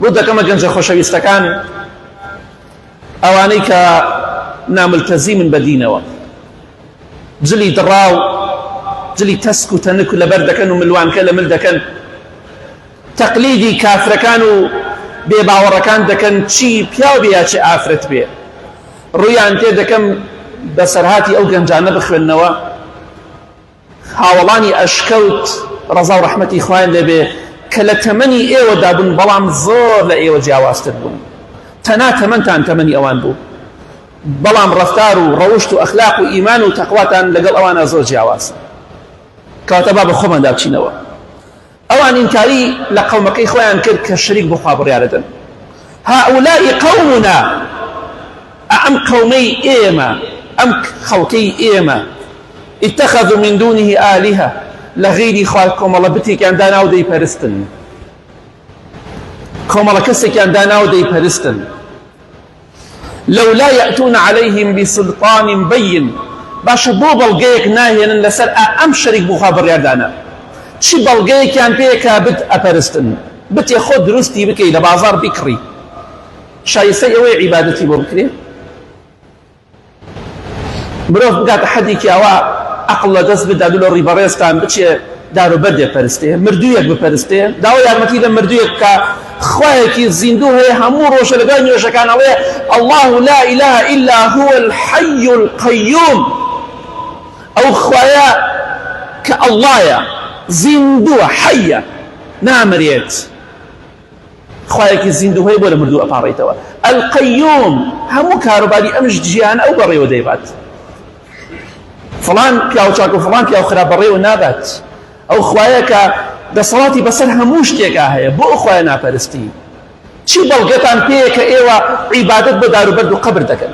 بۆ دەکەمە گەنجە خۆشەویستەکان ئەوانەی کە ناملتەزی من بە دینەوە جلی دڕاو جلی تەسک و تەنک و لەبەر دەکەن و ملوانکە لە مل دەکەن تەقلیدی کافرەکان و بێ باوەڕەکان دەکەن چی پیاو بێ چی ئافرەت بێ ڕویان تێ دەکەم بەسەرهاتی ئەو گەنجانە بخوێندنەوە هاوەڵانی ئەشکەوت ڕەزا و ڕەحمەتی خوایان لێ بێ کە لە تەمەنی ئێوەدا بوون بەڵام زۆر لە ئێوە جیاوازتر بوون تەنا تەمەنتان تەمەنی ئەوان بوو بەڵام ڕەفتار و ڕەوشت و ئەخلاق و ئیمان و تەقواتان لەگەڵ ئەوانە زۆر جیاوازە کەواتە با بە خۆماندا بچینەوە ئەوان ئینکاری لە قەومەکەی خۆیان کرد کە شەریک بۆ خوا بڕیارە دەن هؤلاء قومنا ئەم قەومەی ئێمە ئەم خەڵکەی ئێمە اتخذوا من دونه آلهة لە غیری خوا کۆمەڵە بتێکیان دانا و دەیپەرستن کۆمەڵە کەسێکیان دانا و دەیپەرستن لولا یاتون علیهم بسلطان بین باشە بۆ بەڵگەیەک ناهێنن لەسەر ئا ئەم شەریک بخوا بڕیاردانە چ بەڵگەیەکیان پێیە کا بت ئەپەرستن بتێ خۆت دروستی بکەی لە بازار بیکڕی شایستەی ئەوەیە عیبادەتی بۆ بکرێ؟ مرۆڤ بگاتە حەدێکی ئەوە عقل لە دەست بدات و لە ڕی بەڕێزتان بچێ دارو بەردێ پەرستێ مردوویەک بپەرستێ داوا یارمەتی لە مردوویەک بکە خوایەکی زیندوو هەیە هەموو ڕۆژە لە دوای نوێژەکان ئەڵێ الله لا اله الا هو الحي القيوم ئەو خوایە کە ئەڵڵایە زیندووە حەیە نامرێت خوایەکی زیندوو هەیە بۆ لە مردوو ئەپاڕێیتەوە القیوم هەموو کاروباری ئەم ژیانە ئەو بەڕێوە دەیبات فڵان پیاو چاک و فڵان پیاو خراپ بەڕێوە نابات ئەو خوایەکە دەسەڵاتی بەسەر هەموو شتێکا هەیە بۆ ئەو خوایە ناپەرستی چی بەڵگەتان پێیە کە ئێوە عیبادت بە داروبەرد و قەبر دەکەن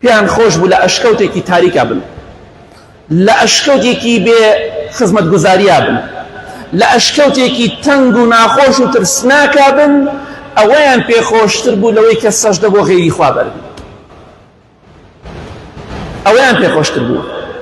پێیان خۆش بوو لە ئەشکەوتێکی تاریکا بن، لە ئەشکەوتێکی بێ خزمەتگوزاریا بن، لە ئەشکەوتێکی تەنگ و ناخۆش و ترسناکا بن، ئەوەیان پێ خۆشتر بوو لەوەی کە سەژدە بۆ غەیری خوا بەربن، ئەوەیان پێ خۆشتر بوو.